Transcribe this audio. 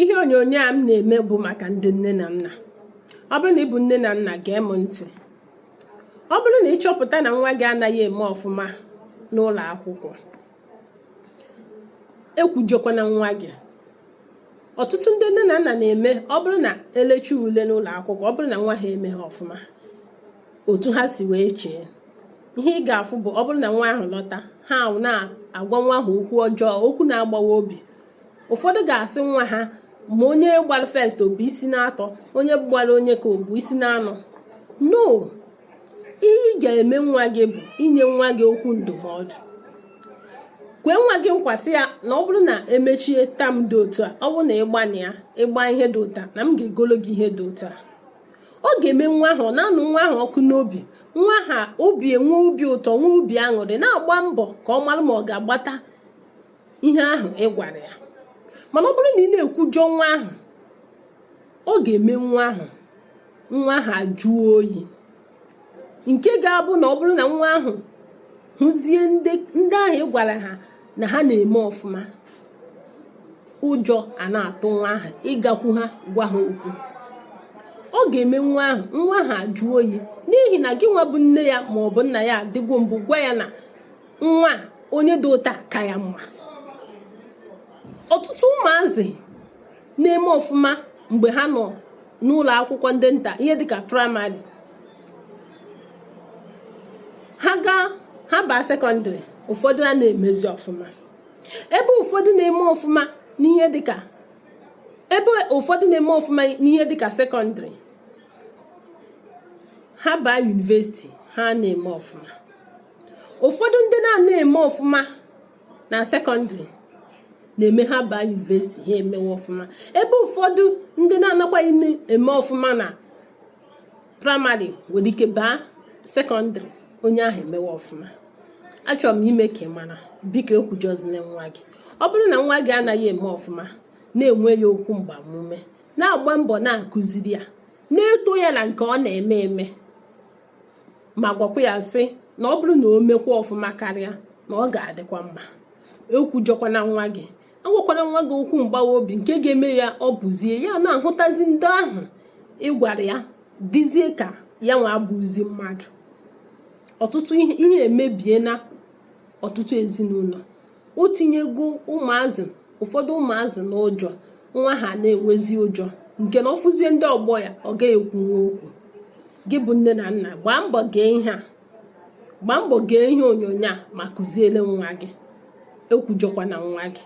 ihe onyonyo a m na-eme bụ maka ndị nne na nna ọ bụrụ na ị bụ nne na nna gee m ntị ọ bụrụ na ị chọpụta na nwa gị anaghị eme ọfụma n'ụlọ akwụkwọ ekwujọkwana nwa gị ọtụtụ ndị nne na nna na-eme ọ bụrụ na elechie ule n'ụlọ akwụkwọ ọ bụrụ na nwa ha emeghị ọfụma otu ha si wee chee ihe ị ga-afụ bụ ọ bụrụ na nwa ahụ lọta ha na-agwa nwa ahụ okwu ọjọọ okwu na-agbawa obi ụfọdụ ga-asị nwa ha ma onye gbara first o bu isi naatọ onye gbara onye ka o bu isi naanọ no ihe ị ga-eme nwa gị bụ inye nwa gị okwu ndụmọdụ kwee nwa gị nkwa sị ya na ọ bụrụ na emechie term dị otu a ọ bụrụ na ị gba na ị gba ihe dị otu a na m ga-egolo gị ihe dị ụta ọ ga-eme nwa ahụ na-anụ nwa ahụ ọkụ n'obi nwa ahụ obi enwee obi ụtọ nwee obi aṅụrị na-agba mbọ ka ọ mara ma ọ ga-agbata ihe ahụ ị gwara ya mana ọ bụrụ na ị na-ekwujọ nwa ahụ ọ ga-eme nwa ahụ nwa ahụ ajụọ oyi nke ga-abụ na ọ bụrụ na nwa ahụ hụzie ndị ahụ ị gwara ha na ha na-eme ọfụma ụjọ ana-atụ nwa ahụ ịgakwu ha gwa ha okwu ọ ga-eme nwa ahụ nwa ahụ ajụọ oyi n'ihi na gị nwa bụ nne ya ma ọ bụ nna ya adịgo mbụ gwa ya na nwa onye dị otu a ka ya mma ọtụtụ ụmụazị na-eme ọfụma mgbe ha nọ n'ụlọ akwụkwọ ndị nta ihe dịka praịmarị ha gaa ha baa sekọndịrị ụfọdụ ana-emezi ọfụma ebe ụfọdụ na-eme ọfụma n'ihe dịka ebe ụfọdụ na-eme ọfụma n'ihe dịka sekọndịrị ha baa yunivesiti ha na-eme ọfụma ụfọdụ ndị na-ana eme ọfụma na sekọndịrị na-eme ha baa yunivesiti ha emewe ọfụma ebe ụfọdụ ndị na-anakwaghị na-eme ọfụma na praịmarị nwere ike baa sekọndịrị onye ahụ emewe ọfụma achọrọ m ime ka ị mara biko ekwujọzina nwa gị ọ bụrụ na nwa gị anaghị eme ọfụma na-enye ya okwu mgbamume na-agba mbọ na-akụziri ya na-eto ya na nke ọ na-eme eme ma gwakwa ya sị na ọ bụrụ na o mekwa ọfụma karịa na ọ ga-adịkwa mma ekwujọkwana nwa gị agwakwana nwa gị okwu mgbawa obi nke ga-eme ya ọ bụzie ya na-ahụtazi ndị ahụ ị gwara ya dịzie ka ya nwa abụzi mmadụ ọtụtụ ihe emebie na ọtụtụ ezinụlọ o tinyego ụmụazị ụfọdụ ụmụazị n'ụjọ nwa ahụ na-enwezi ụjọ nke na ọ fụzie ndị ọgbọ ya ọ gaghị ekwunwu okwu gị bụ nne na nna gbaa mbọ gee ihe a gbaa mbọ gee ihe onyonyo a ma kụziere nwa gị ekwujọkwana nwa gị